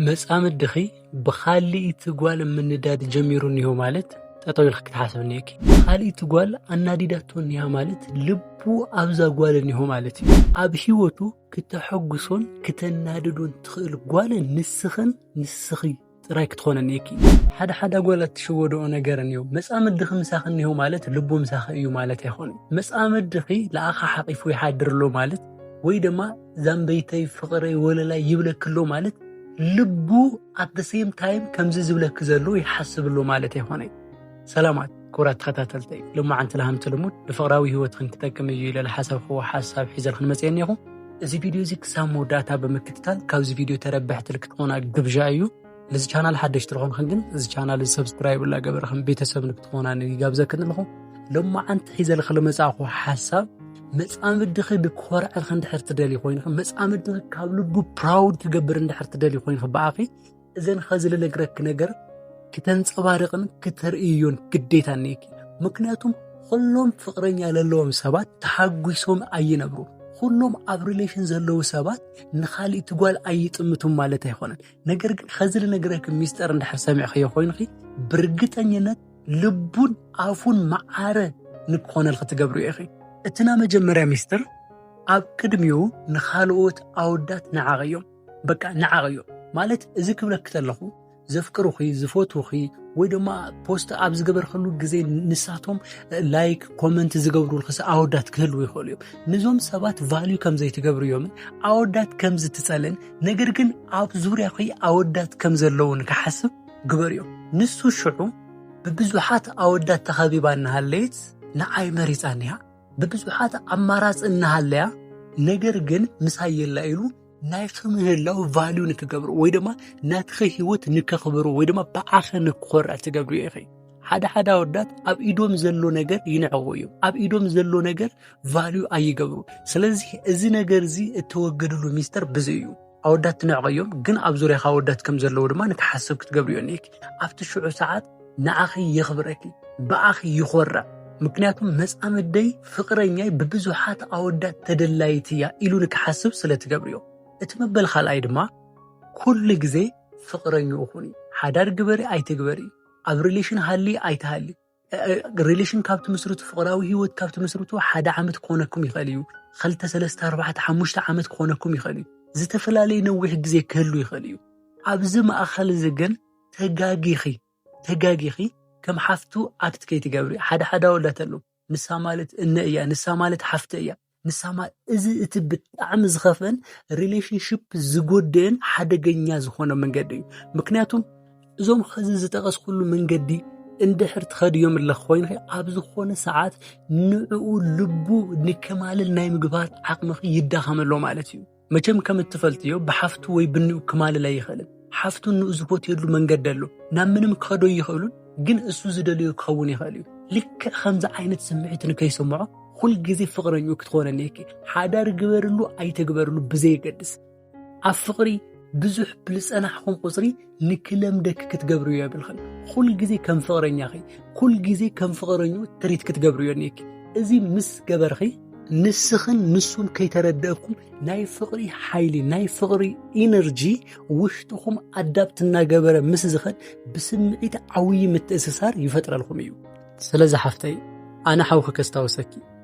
መጻምድኺ ብኻልኢቲ ጓል ምንዳድ ጀሚሩ እኒሆ ማለት ጠጠው ኢልክ ክትሓስብ እኒሄኪ። ካልኢቲ ጓል ኣናዲዳቶ እኒሃ ማለት ልቡ ኣብዛ ጓል እኒሆ ማለት እዩ። ኣብ ህይወቱ ክተሐጉሶን ክተናድዶን ትኽእል ጓል ንስኽን ንስኺ ጥራይ ክትኾነ እኒሄኪ። ሓደ ሓደ ጓላት ትሸወደኦ ነገር እኒሆ መጻምድኺ ምሳኺ እኒሆ ማለት ልቡ ምሳኺ እዩ ማለት ኣይኮነን። መጻምድኺ ንኣኻ ሓቂፉ ይሓድር ኣሎ ማለት ወይ ድማ ዛምበይተይ ፍቅረይ ወለላይ ይብለክ ኣሎ ማለት ልቡ ኣት ሴም ታይም ከምዚ ዝብለክ ዘሎ ይሓስብ ኣሎ ማለት ኣይኮነይ። ሰላማት ክቡራት ተኸታተልተይ ልማዓንቲ ልሃምቲ ልሙድ ንፍቅራዊ ህይወትክን ክጠቅም እዩ ኢለ ዝሓሰብክዎ ሓሳብ ሒዘልክን መፅአ እኒኹ። እዚ ቪድዮ እዚ ክሳብ መወዳእታ ብምክትታል ካብዚ ቪድዮ ተረበሕቲ ልክትኾና ግብዣ እዩ። ነዚ ቻናል ሓደሽቲ ዝኾንክን ግን እዚ ቻናል እዚ ሰብስክራይብ እናገበርክን ቤተሰብ ንክትኾና ይጋብዘክን ኣለኹ ሎማዓንቲ ሒዘልኺ ዝመፃእኹ ሓሳብ መፃምድኺ ንክኾርዐልኺ እንድሕር ትደሊ ኮይንኺ መፃምድኺ ካብ ልቡ ፕራውድ ክገብር እንድሕር ትደሊ ኮይንኺ ብኣኺ እዘን ኸዚ ልነግረኪ ነገር ክተንፀባርቕን ክተርእዮን ግዴታ እኒአኪ ምክንያቱም ኩሎም ፍቅረኛ ዘለዎም ሰባት ተሓጒሶም ኣይነብሩ ኩሎም ኣብ ሪሌሽን ዘለዉ ሰባት ንካሊእቲ ጓል ኣይጥምቱም ማለት ኣይኮነን ነገር ግን ኸዚ ልነግረኪ ሚስጥር እንድሕር ሰሚዕኸዮ ኮይንኺ ብርግጠኝነት ልቡን ኣፉን መዓረ ንክኾነልኺ ትገብሪ ኢኺ እቲ ናይ መጀመርያ ሚስጥር ኣብ ቅድሚኡ ንኻልኦት ኣወዳት ንዓቕ እዮም በቃ ንዓቕ እዮም ማለት እዚ ክብለኪ ተለኹ ዘፍቅሩኺ ዝፈትውኺ ወይ ድማ ፖስት ኣብ ዝገበርክሉ ግዜ ንሳቶም ላይክ ኮመንት ዝገብሩልክስ ኣወዳት ክህልው ይኽእሉ እዮም ንዞም ሰባት ቫልዩ ከምዘይትገብርዮምን ኣወዳት ከምዝትፀልን ነገር ግን ኣብ ዙርያኺ ኣወዳት ከም ዘለዉ ንክሓስብ ግበርዮ። ንሱ ሽዑ ብብዙሓት ኣወዳት ተኸቢባ እናሃለየት ንዓይ መሪጻኒ እያ፣ ብብዙሓት ኣማራጺ እናሃለያ ነገር ግን ምሳይ የላ ኢሉ ናይቲ ምህላው ቫልዩ ንክገብሩ ወይ ድማ ናትኺ ህይወት ንከኽብሩ ወይ ድማ ብዓኺ ንክኾርዕ ትገብርዮ ኢኺ። ሓደ ሓደ ኣወዳት ኣብ ኢዶም ዘሎ ነገር ይንዕቑ እዩ ኣብ ኢዶም ዘሎ ነገር ቫልዩ ኣይገብሩ ስለዚ እዚ ነገር እዚ እተወገድሉ ሚስተር ብዚ እዩ ኣወዳት ትንዕቑ እዮም ግን ኣብ ዙርያኻ ኣወዳት ከም ዘለዉ ድማ ንክሓስብ ክትገብርዮ እኒክ ኣብቲ ሽዑ ሰዓት ንኣኺ የኽብረኪ ብኣኺ ይኾርዕ ምክንያቱም መፃምደይ ፍቕረኛይ ብብዙሓት ኣወዳት ተደላይት እያ ኢሉ ንክሓስብ ስለ ትገብርዮ እቲ መበል ካልኣይ ድማ ኩሉ ግዜ ፍቕረኛ ኹኒ ሓዳር ግበሪ ኣይትግበሪ ኣብ ሪሌሽን ሃሊ ኣይትሃሊ ሪሌሽን ካብ ትምስርቱ ፍቕራዊ ህይወት ካብ ትምስርቱ ሓደ ዓመት ክኾነኩም ይኽእል እዩ ክልተ ሰለስተ ኣርባዕተ ሓሙሽተ ዓመት ክኾነኩም ይኽእል እዩ ዝተፈላለየ ነዊሕ ግዜ ክህሉ ይኽእል እዩ ኣብዚ ማእኸል እዚ ግን ተጋጊኺ ተጋጊኺ ከም ሓፍቱ ኣክት ከይትገብሪ ሓደ ሓደ ኣወዳት ኣለዉ ንሳ ማለት እነ እያ ንሳ ማለት ሓፍተ እያ ንሳማ እዚ እቲ ብጣዕሚ ዝኸፍአን ሪሌሽንሽፕ ዝጎድእን ሓደገኛ ዝኾነ መንገዲ እዩ ምክንያቱም እዞም ኸዚ ዝጠቐስኩሉ መንገዲ እንድሕር ትኸድዮም ኣለኽ ኮይኑ ኣብ ዝኾነ ሰዓት ንዕኡ ልቡ ንከማልል ናይ ምግባር ዓቕምኺ ይዳኸመሎ ማለት እዩ መቸም ከም እትፈልጥዮ ብሓፍቱ ወይ ብንኡ ክማልል ኣይኽእልን። ሓፍቱ ንኡ ዝፈትየሉ መንገዲ ኣሎ፣ ናብ ምንም ክኸዶ ኣይኽእሉን፣ ግን እሱ ዝደለዮ ክኸውን ይኽእል እዩ። ልክዕ ከምዚ ዓይነት ስምዒት ንከይስምዖ ኩል ግዜ ፍቕረኝኡ ክትኾን ኣልየኪ። ሓዳር ግበርሉ ኣይትግበርሉ ብዘየገድስ ኣብ ፍቕሪ ብዙሕ ብልፀናሕኹም ቁፅሪ ንክለምደኪ ክትገብርዮ የብልኽን ኩል ግዜ ከም ፍቕረኛኺ ኩል ግዜ ከም ፍቕረኙ ትሪት ክትገብርዮ እኒኪ እዚ ምስ ገበርኺ ንስኽን ንሱን ከይተረደእኩም ናይ ፍቕሪ ሓይሊ ናይ ፍቕሪ ኢነርጂ ውሽጥኹም ኣዳብት እናገበረ ምስ ዝኸድ ብስምዒት ዓብዪ ምትእስሳር ይፈጥረልኩም እዩ ስለዚ ሓፍተይ ኣነ ሓውኺ ከስታውሰኪ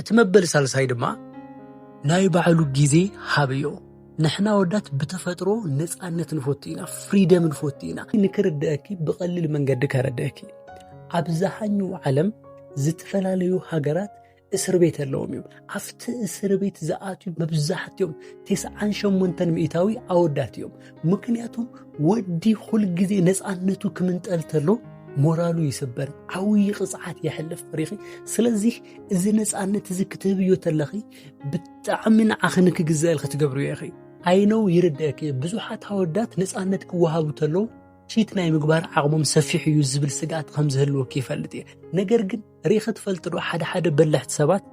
እቲ መበል ሳልሳይ ድማ ናይ ባዕሉ ግዜ ሃብዮ። ንሕና ወዳት ብተፈጥሮ ነፃነት ንፈቱ ኢና፣ ፍሪደም ንፈቱ ኢና። ንክርድአኪ ብቐሊል መንገዲ ከረድአኪ ኣብዝሃኙ ዓለም ዝተፈላለዩ ሃገራት እስር ቤት ኣለዎም እዮም። ኣብቲ እስር ቤት ዝኣትዩ መብዛሕትኦም ቴስዓን ሸሞንተን ሚእታዊ ኣወዳት እዮም። ምክንያቱ ወዲ ኩል ግዜ ነፃነቱ ክምንጠል ተሎ ሞራሉ ይስበር ዓብዪ ቅፅዓት የሕልፍ ፍሪኺ ስለዚ እዚ ነፃነት እዚ ክትህብዮ ተለኺ ብጣዕሚ ንዓኺ ንክግዘአልኪ ትገብርዮ ኢኺ ኣይነው ይርደእኪ ብዙሓት ኣወዳት ነፃነት ክወሃቡ ተለዉ ቺት ናይ ምግባር ዓቕሞም ሰፊሕ እዩ ዝብል ስግኣት ከም ዝህልወኪ ይፈልጥ እየ ነገር ግን ሪኢኺ ትፈልጢ ዶ ሓደ ሓደ በላሕቲ ሰባት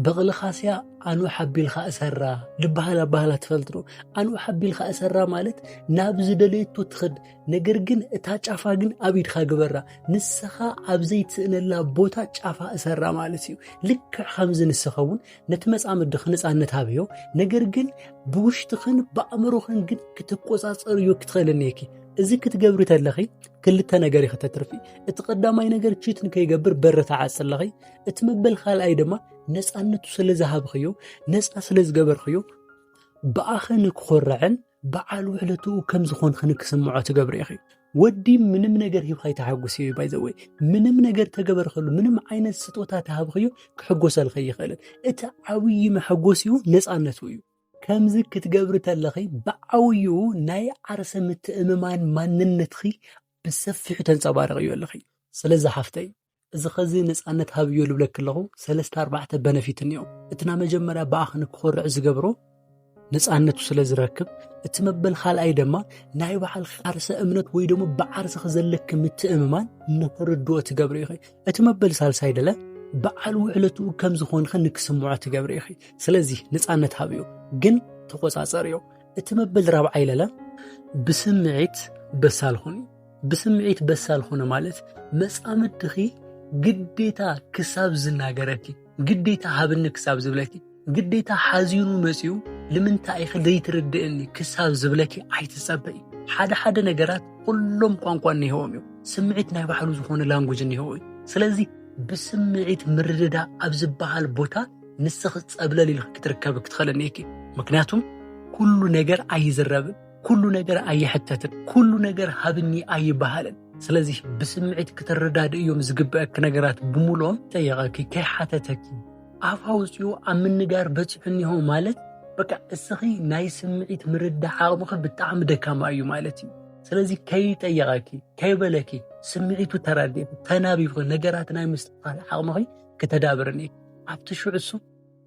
በቕልኻስያ ኣኑ ሓቢልካ እሰራ ዝበሃል ኣባህላ ትፈልጢ ዶ? ኣኑ ሓቢልካ እሰራ ማለት ናብ ዝደለየቶ ትኸድ፣ ነገር ግን እታ ጫፋ ግን ኣብ ኢድካ ግበራ፣ ንስኻ ኣብ ዘይትስእነላ ቦታ ጫፋ እሰራ ማለት እዩ። ልክዕ ከምዚ ንስኻ እውን ነቲ መጻምድኺ ነጻነት ሃብዮ፣ ነገር ግን ብውሽጥኽን ብኣእምሮኽን ግን ክትቆጻጸርዮ ክትኽእል እኒኪ። እዚ ክትገብሪ ተለኺ ክልተ ነገር እዩ ከተትርፊ እቲ ቀዳማይ ነገር ቺት ንከይገብር በረ ተዓፅለኺ እቲ መበል ካልኣይ ድማ ነፃነቱ ስለ ዝሃብኽዮ ነፃ ስለ ዝገበርኽዮ ብኣኸ ንክኾርዕን በዓል ውዕለትኡ ከም ዝኾንክ ንክስምዖ ትገብሪ ኢኺ ወዲ ምንም ነገር ሂብካ ይተሓጉስ እዩ ባይዘወይ ምንም ነገር ተገበርኸሉ ምንም ዓይነት ስጦታ ተሃብኽዮ ክሕጎሰልኸ ይኽእልን እቲ ዓብዪ መሐጎስ እዩ ነፃነቱ እዩ ከምዚ ክትገብሪ ተለኺ ብዓብዩ ናይ ዓርሰ ምትእምማን ማንነትኺ ብሰፊሑ ተንጸባርቕዮ ኣለኺ። ስለዚ ሓፍተይ እዚ ኸዚ ነጻነት ሃብዮ ልብለኪ ኣለኹ ሰለስተ ኣርባዕተ በነፊት እንዮ እቲ ና መጀመርያ ብኣኽ ንክኾርዕ ዝገብሮ ነጻነቱ ስለ ዝረክብ እቲ መበል ካልኣይ ድማ ናይ በዓልኺ ዓርሰ እምነት ወይ ደሞ ብዓርስኺ ዘለኪ ምትእምማን ንክርድኦ ትገብሪ ኢኺ እቲ መበል ሳልሳይ ደለ በዓል ውዕለትኡ ከም ዝኾንኸ ንክስምዖ ትገብሪ ኢኺ ስለዚ ንፃነት ሃብዮ ግን ተቆፃፀርዮ እቲ መበል ራብዓይ ለለ ብስምዒት በሳል ኹኒ ብስምዒት በሳል ኹነ ማለት መፃምድኺ ግዴታ ክሳብ ዝናገረኪ ግዴታ ሃብኒ ክሳብ ዝብለኪ ግዴታ ሓዚኑ መጺኡ ልምንታይ ኢኺ ዘይትርድእኒ ክሳብ ዝብለኪ ኣይትጸበይ ሓደ ሓደ ነገራት ኩሎም ቋንቋ እኒሄዎም እዮም ስምዒት ናይ ባዕሉ ዝኾነ ላንጉጅ እኒሄዎ እዩ ስለዚ ብስምዒት ምርድዳ ኣብ ዝበሃል ቦታ ንስኺ ጸብለል ኢልኪ ክትርከቢ ክትኽእለኒ እኪ ምክንያቱም ኩሉ ነገር ኣይዝረብን ኩሉ ነገር ኣይሕተትን፣ ኩሉ ነገር ሃብኒ ኣይበሃልን። ስለዚ ብስምዒት እዮም ዝግበአኪ ነገራት ብምሎም ጠየቐኪ ከይሓተተኪ ኣፍ ኣውፂኡ ኣብ ምንጋር በፂሑ እኒሆ ማለት በቃ እስኺ ናይ ስምዒት ምርዳእ ዓቕምኺ ብጣዕሚ ደካማ እዩ ማለት እዩ። ስለዚ ከይጠየቐኪ ከይበለኪ ስምዒቱ ተራዲእኺ ተናቢብኺ ነገራት ናይ ምስትኻል ዓቕምኺ ክተዳብርኒ ኣብቲ ሽዑ እሱ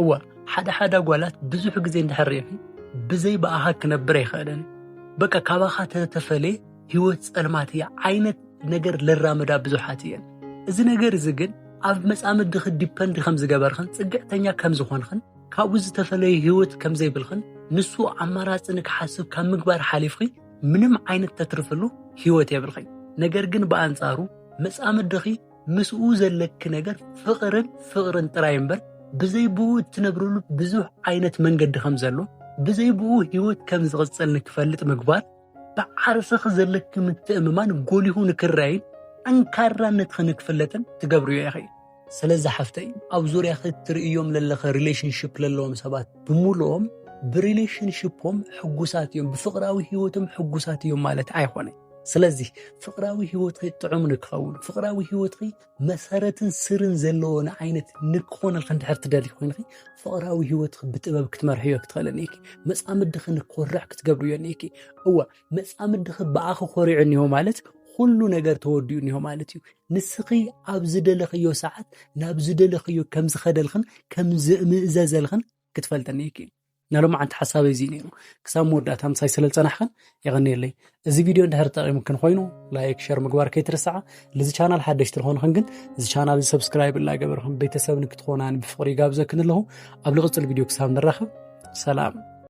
እወ ሓደ ሓደ ጓላት ብዙሕ ግዜ እንድሕር ርኤኺ ብዘይ ብኣኻ ክነብር ኣይኽእልን በቃ ካባኻ ተተፈለየ ህይወት ጸልማት እያ ዓይነት ነገር ለራምዳ ብዙሓት እየን እዚ ነገር እዚ ግን ኣብ መጻምድኺ ዲፐንድ ከም ዝገበርኽን ጽግዕተኛ ከም ዝኾንኽን ካብኡ ዝተፈለየ ህይወት ከም ዘይብልኽን ንሱ ኣማራጺ ንክሓስብ ካብ ምግባር ሓሊፍኺ ምንም ዓይነት ተትርፍሉ ህይወት የብልኽን ነገር ግን ብኣንጻሩ መጻምድኺ ምስኡ ዘለኪ ነገር ፍቕርን ፍቕርን ጥራይ እምበር ብዘይ ብኡ እትነብርሉ ብዙሕ ዓይነት መንገዲ ከም ዘሎ ብዘይ ብኡ ህይወት ከም ዝቕፅል ንክፈልጥ ምግባር ብዓርስኺ ዘለኪ ምትእምማን ጎሊሁ ንክረይን ጠንካራነትኺ ንክፍለጥን ትገብርዮ ኢኺ ስለዚ ሓፍተይ ኣብ ዙርያኺ እትርእዮም ዘለኺ ሪሌሽንሽፕ ዘለዎም ሰባት ብምሉኦም ብሪሌሽንሽፖም ሕጉሳት እዮም ብፍቕራዊ ህይወቶም ሕጉሳት እዮም ማለት ኣይኮነን ስለዚህ ፍቅራዊ ህይወትኺ ጥዑም ንክኸውን ፍቅራዊ ህይወትኺ መሰረትን ስርን ዘለዎ ንዓይነት ንክኾነልኪ እንድሕር ትደሊ ኮይንኺ ፍቅራዊ ህይወትኺ ብጥበብ ክትመርሕዮ ክትኽእልን እኒኪ መፃምድኺ ንክኮርዕ ክትገብርዮ እኒኪ እወ መፃምድኺ ብኣኺ ኮሪዑ እኒሆ ማለት ኩሉ ነገር ተወዲኡ እኒሆ ማለት እዩ ንስኺ ኣብ ዝደለኽዮ ሰዓት ናብ ዝደለኽዮ ከም ዝኸደልኽን ከም ዝምእዘዘልኽን ክትፈልጠኒ እኪ ናይ ሎማዓንቲ ሓሳበይ እዚ ነይሩ ክሳብ መወዳእታ ምሳይ ስለ ዝፀናሕክን የቐኒየለይ እዚ ቪድዮ እንድሕር ጠቒሙክን ኮይኑ ላይክ ሸር ምግባር ከይትርስዓ ልዚ ቻናል ሓደሽቲ ዝኾንኽን ግን እዚ ቻናል እዚ ሰብስክራይብ እናገበርክን ቤተሰብ ንክትኾናን ብፍቕሪ ይጋብዘክን ኣለኹ ኣብ ልቕፅል ቪድዮ ክሳብ ንራኸብ ሰላም